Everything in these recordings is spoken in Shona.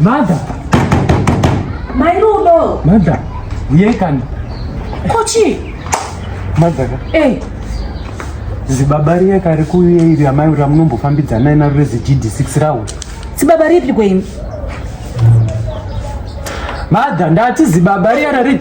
Mother. Mai Rudo. Mother. Yekani. Kochi. Mother. Eh. Zibaba riye kari kuuye iri amai ura munombofambidzana ina rurezi GD6 rawo. Zibaba ripi kweni? Mother, ndati zibaba riye rari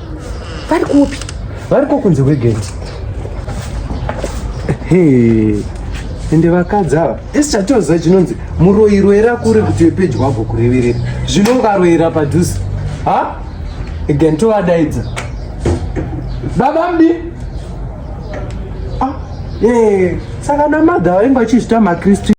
vari kupi variko kunze kwegeti ende vakadzi ava esi chatoziva chinonzi muroirwera kure kuti wepedyo wabvo kureverera zvino ungaroyera padhuze ha again tovadaidza baba mdi ah, saka namadha vainge vachizvita makristu